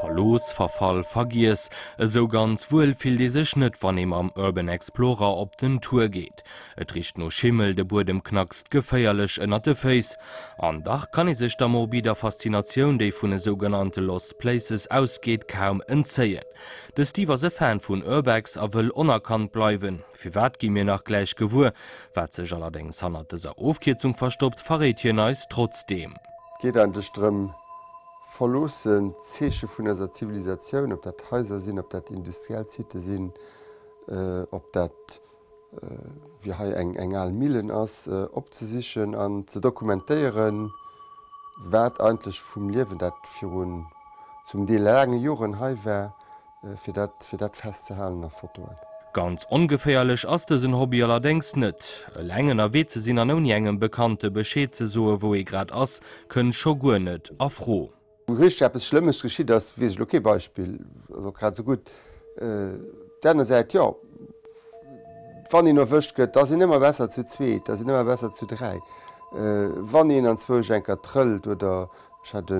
Verlooss, verfall, vergiess, esou ganz wuel fillt ee sech net wann ee mam Urban Explorer op den Tour geet. Et richt no Schimmel, de Buedem knackst geféierlech ënnert de Féiss. An dach kann ee sech der morbider Faszinatioun, déi vun esou genannte Lost Places ausgeet, kaum entzéien. De Steve ass e Fan vun Urbex a wëll onerkannt bleiwen. Firwat gi mir nach gläich gewuer, wat sech allerdéngs hannert dëser Ofkierzung verstoppt, verréit hien eis trotzdeem. Geet eigentlech drëm, verloossen d'Zeeche vun eiser Zivilisatioun, ob dat Haiser sinn, ob dat industriell Sitë sinn, ob dat wéi hei eng al Millen ass, opzesichen an ze dokumentéieren, wat eigentlech vum Liewen, dat virun zum Deel laange Joren hei war, Fir dat fir dat fest ze halen a Fotoen. Ganz ongeféierlech ass dësen Hobby allerdéngs net. Eleng ënnerwee ze sinn an ouni engem Bekannte Bescheed ze soe wou ee grad ass, kënnt scho guer net a Fro. Wou richteg eppes Schlëmmes geschitt ass, weess ech elo kee Beispill. Also grad esou gutt. Op där aner Säit, jo, wann een erwëscht gëtt, da ass een ëmmer besser zu zweet, da ass een ëmmer besser zu dräi. Wann een anzwousch eng Kéier trëllt oder. Ech hat e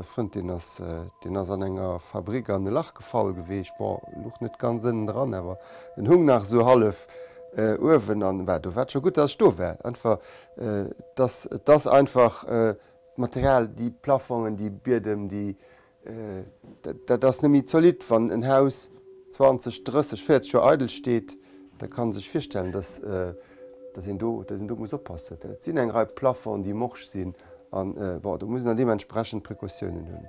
Frënd, deen ass, deen ass an enger Fabrik an e Lach gefall geweecht, bon, luch net ganz ënnen dran, awer en hung nach esou hallef uewen, an bah, do war et scho gutt, datt ech do war. Einfach, et ass, et ass einfach d'Material, déi Plafongen, déi Biedem, déi, dat, dat ass net méi zolidd. Wann en Haus 20, 30, 40 Joer eidel steet, da kann ee sech virstellen, datt, dass een do, dass een do muss oppassen. Et sinn eng Rei Plafonds, déi morsch sinn an, bon, do muss een dann deementsprechend Precautiounen hunn.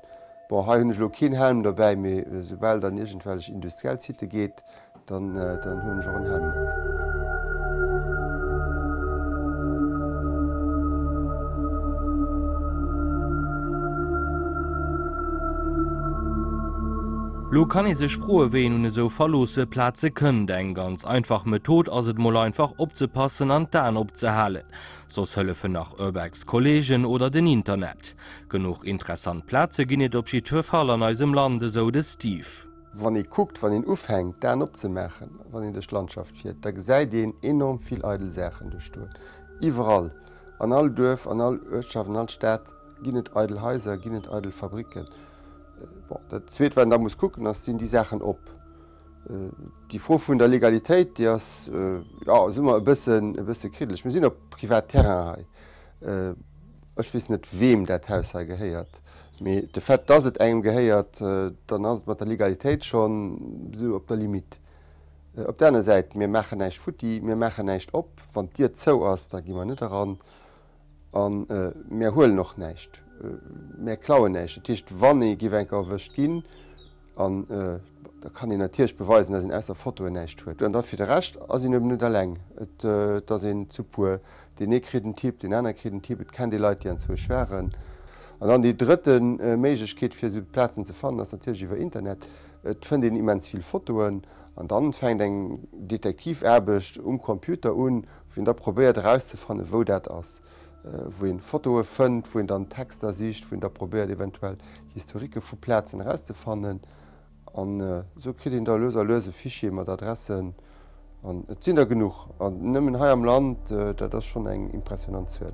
Bon, hei hunn ech elo keen Helm dobäi, mee esoubal et an iergendwellech industriell Sitë geet, dann, dann huelen ech och en Helm mat. Lo kann ee sech froe wéi een un esou verloosse Plaze kënnt. Eng ganz einfach Method ass et mol einfach opzepassen an d'Aen op ze halen. Soss hëllefen nach Urbex Kollegen oder den Internet. Genuch interessant Plaze ginn et op jiddfe Fall an eisem Land, esou de Steve. Wann ee kuckt, wann een ufänkt d'Aen op ze maachen, wann een duerch d'Landschaft fiert, da gesäit een enorm vill eidel Saachen do stoen. Iwwerall, an all Duerf, an all Uertschaft, an all Stad ginn et eidel Haiser, ginn et eidel Fabricken. Bon, dat Zweet, wat een da muss kucken, ass, Sinn déi Saachen op? Déi Fro vun der Legalitéit, déi ass, jo, ass ëmmer e bëssen, e bësse kriddeleg. Mir sinn op Privatterrain hei. Ech weess net, weem dat Haus hei gehéiert. Mee de Fait, dass et engem gehéiert, dann ass et mat der Legalitéit schonn esou op der Limite. Op der aner Säit, mir maachen näischt futti, mir maachen näischt op. Wann d'Dier zou ass, da gi mer net eran. A mär huelen och näischt. Mär klauen näischt. Dat heescht, wann ee géif eng Kéier erwëscht ginn, an da kann een natierlech beweisen, dass een ausser Fotoen näischt huet. An da fir de Rescht ass een eben net eleng. Et ass een zu puer. Deen ee kritt en Tipp, deen anere kritt en Tipp, et kennt ee Leit, déi anzwousch waren. An dann déi drëtte Méiglechkeet, fir esou Plazen ze fannen, ass natierlech iwwer Internet. Et fënnt een immens vill Fotoen. An dann fänkt eng Detektivaarbecht um Computer un. Wien da probéiert erauszefannen, wou dat ass, wou een Fotoe fënnt, wou een dann Texter sicht, wou een da probéiert eventuell Historique vu Plazen erauszefannen, an esou kritt een da lues a lues e Fichier mat Adressen, an et sinn der genuch, an nëmmen hei am Land, dat ass schonn eng impressionant Zuel.